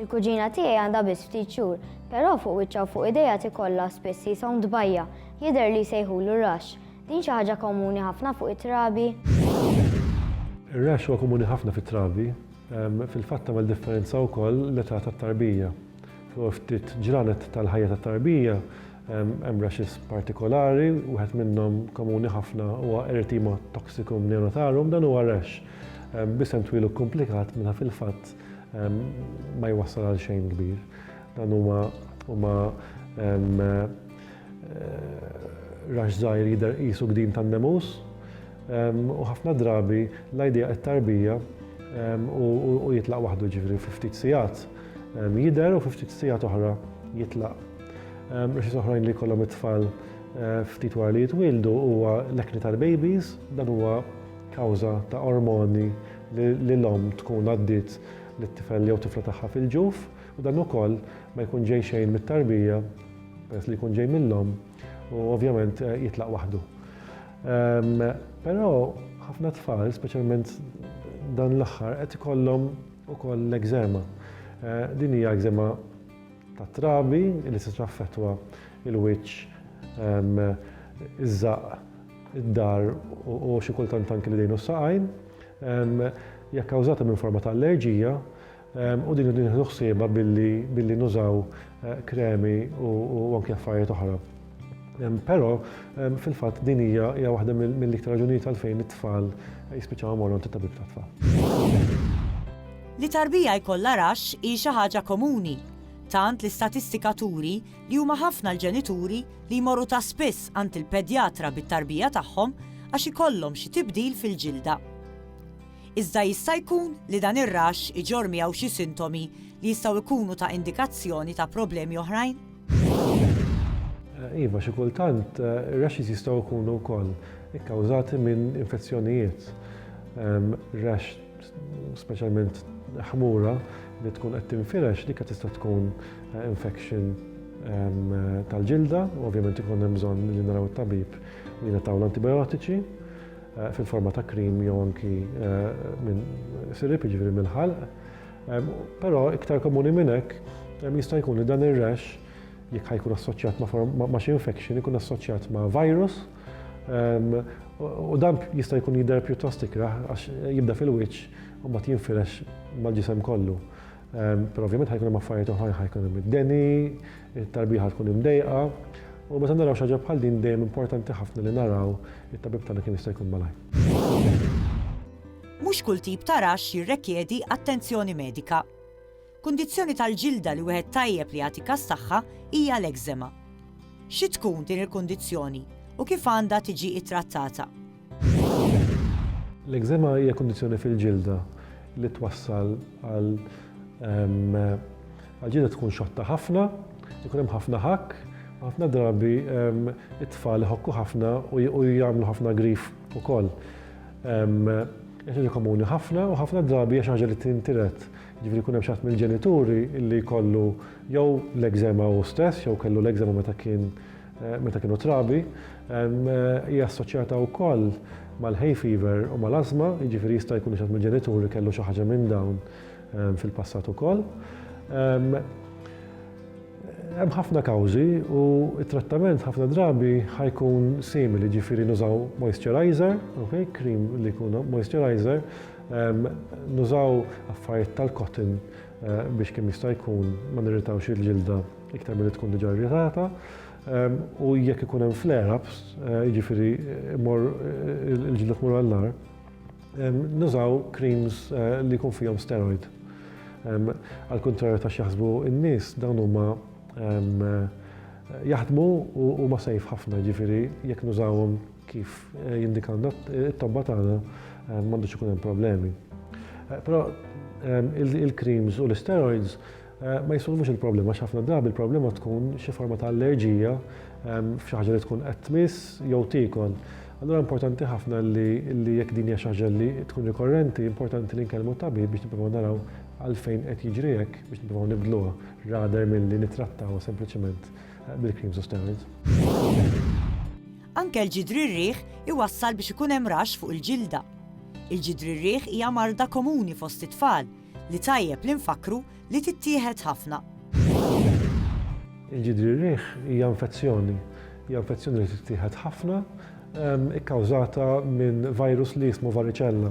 Il-kuġina tiegħi għandha biss ftit xhur, però fuq wiċċha u fuq idejha tikollha spiss jishom tbajja', jidher li jsejħulu rash. Din xi ħaġa komuni ħafna fuq it-trabi? Ir-rash huwa komuni ħafna fit-trabi. Fil-fatt tagħmel differenza wkoll l-età tat-tarbija. Fl-ewwel ftit ġranet tal-ħajja tat-tarbija hemm rashes partikolari, wieħed minnhom komuni ħafna huwa erythema toxicum neonatarum, dan huwa rash b'isem twil u kkumplikat meta fil-fatt ma jwassal għal xejn kbir. Dan huma huma eh, rax żgħir jidher qisu gdin tan-nemus u ħafna drabi l-idea qed-tarbija u jitlaq waħdu ġifri fi ftit sigħat jidher u fi ftit sigħat oħra jitlaq. Raxis oħrajn li kollhom it-tfal eh, ftit wara li jitwildu huwa l-ekni tal-babies, dan huwa kawża ta' ormoni li l-omm tkun għaddiet lit-tifel jew tifla tagħha fil-ġuf u dan ukoll ma jkun ġej xejn mit-tarbija peress li jkun ġej mill-omm u ovvjament eh, jitlaq waħdu. Ehm, però ħafna tfal, speċjalment dan l-aħħar, qed ikollhom ukoll l-egzema. Eh, din hija egzema ta' trabi li se traffetwa il-wiċċ ehm, iż-żaq id-dar u xi kultant anki l-idejn u s-saqajn, hija kkawżata minn forma ta' allerġija u din irridu nieħdu ħsiebha billi nużaw kremi u anki affarijiet oħra. Però fil-fatt din hija waħda mill-iktar raġunijiet għalfejn it-tfal jispiċċaw imorru għand it-tabib tat-tfal. Li tarbija jkollha raxx hi xi ħaġa komuni, tant li statistika turi li huma ħafna l-ġenituri li jmorru ta' spiss għand il-pedjatra bit-tarbija tagħhom għax ikollhom xi tibdil fil-ġilda. Iżda jista' jkun li dan ir-raxx iġorr miegħu xi sintomi li jistgħu jkunu ta' indikazzjoni ta' problemi oħrajn? Iva, xi kultant ir-raxxis jistgħu jkunu wkoll ikkawżati minn infezzjonijiet. Raxx Speċjalment ħmura li tkun qed tinfirex dik tista' tkun eh, infection ehm, tal-ġilda, u ovvjament ikun hemm bżonn li naraw it-tabib li nataw l-antibiotiċi eh, fil-forma ta' krim jew anki eh, minn sirip ġifieri mill-ħalq. Ehm, però iktar komuni minn hekk ehm, jista' jkun li dan ir-rash jekk ħajkun assoċjat ma' xi infection ikun assoċjat ma' virus U dan jista' jkun jidher pjuttost ikraħ għax jibda fil-wiċċ u mbagħad jinfirex mal-ġisem kollu. Però ovvjament ħajkun hemm affarijiet oħrajn ħajkun hemm id-deni, it-tarbieħa tkun imdejqa. U meta naraw xaġa bħal din dejjem importanti ħafna li naraw it-tabib tagħna kemm jista' jkun malaj. Mhux kull tip ta' raxx jirrekjedi attenzjoni medika. Kundizzjoni tal-ġilda li wieħed tajjeb li jagħti każ tagħha hija l-ekżema. Xi tkun din il-kundizzjoni u kif għandha tiġi ttrattata? L-ekżema hija kundizzjoni fil-ġilda li twassal għal ġilda tkun xotta ħafna, ikun hemm ħafna ħakk, ħafna drabi it-tfal iħokku ħafna u jagħmlu ħafna grif ukoll. Hija xi ħaġa komuni ħafna u ħafna drabi hija xi ħaġa li tintiret. Jiġifieri jkun hemm xi ħadd mill-ġenituri li jkollu jew l-ekżema hu stess jew kellu l-ekżema meta kien meta kienu trabi. Hija assoċjata wkoll mal-hay fever u mal-ażma, jiġifieri jista' jkun li xi ħadd mill-ġenituri kellu xi ħaġa minn dawn fil-passat ukoll. Hemm ħafna kawżi u t-trattament ħafna drabi ħa jkun simili, jiġifieri nużaw moisturiser, okay, cream li jkun moisturiser, Nużaw affarijiet tal-cotton eh, biex kemm jista' jkun ma nirritawx il-ġilda iktar milli tkun diġà irritata. U jekk ikun hemm flare-ups, eh, jiġifieri eh, mor il-ġilda tmur għall-nar, nużaw creams li jkun fihom steroid. Għal kontrarju ta' xaħsbu n-nies dawn huma jaħdmu u ma sejf ħafna ġifieri jekk nużawhom Kif jindika n-nott, it-tobba tagħna m'għandux ikun hemm problemi. Però il-creams u l-steroids ma jisolvux il-problema, x'ħafna drabi il-problema tkun xi forma ta' allerġija f'xi ħaġa li tkun qed tmiss jew tikol. Allura importanti ħafna li jekk din hija xi ħaġa li tkun rikorrenti, importanti li nkellmu tabib biex nippruvaw naraw għalfejn qed jiġri hekk biex nippruvaw nibdluha rather milli nittrattaw sempliċement bil-creams u steroids. Anke l-ġidri r-riħ iwassal biex ikun hemm raxx fuq il-ġilda. Il-ġidri r-riħ hija marda komuni fost it-tfal li tajjeb li nfakkru li tittieħed ħafna. Il-ġidri r-riħ hija infezzjoni. Hija infezzjoni li tittieħed ħafna, ikkawżata minn virus li jismu varicella.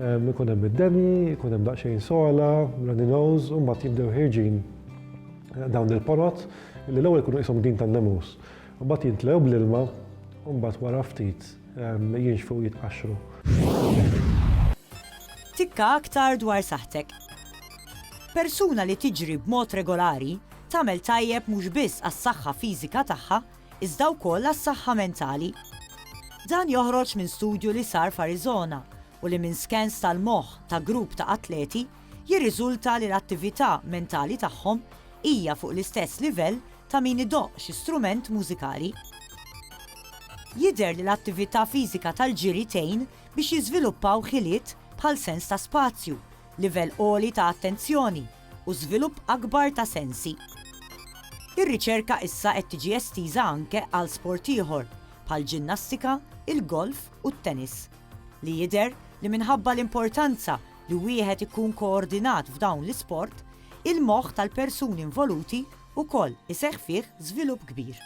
Ikun hemm id-deni, ikun hemm daqsxejn sola, runny nose, u mbagħad jibdew ħirġin dawn il-ponot li l-ewwel ikunu qishom din tan-nemus. Mbagħad jintlew bl-ilma u mbagħad wara ftit jinxfu u jitqaxxru. Tikka aktar dwar saħħtek. Persuna li tiġri b'mod regolari tagħmel tajjeb mhux biss għas-saħħa fiżika tagħha iżda wkoll għas-saħħa mentali. Dan joħroġ minn studju li sar f'Arizona u li minn skans tal-moħħ ta' grupp ta' atleti jirriżulta li l-attività mentali tagħhom hija fuq l-istess livell ta' min idoqq xi strument mużikali. Jidher li l-attività fiżika tal-ġiri tgħin biex jiżviluppaw ħiliet bħal sens ta' spazju, livell għoli ta' attenzjoni, u żvilupp akbar ta' sensi. Ir-riċerka issa qed tiġi estiża anke għal sport ieħor, bħall-ġinnastika, il-golf u t-tennis, li jidher li minħabba l-importanza li wieħed ikun koordinat f'dawn l-isport, il-moħħ tal-persuni involuti wkoll iseħħ fih żvilupp kbir.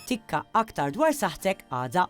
Tikka aktar dwar saħħtek għada.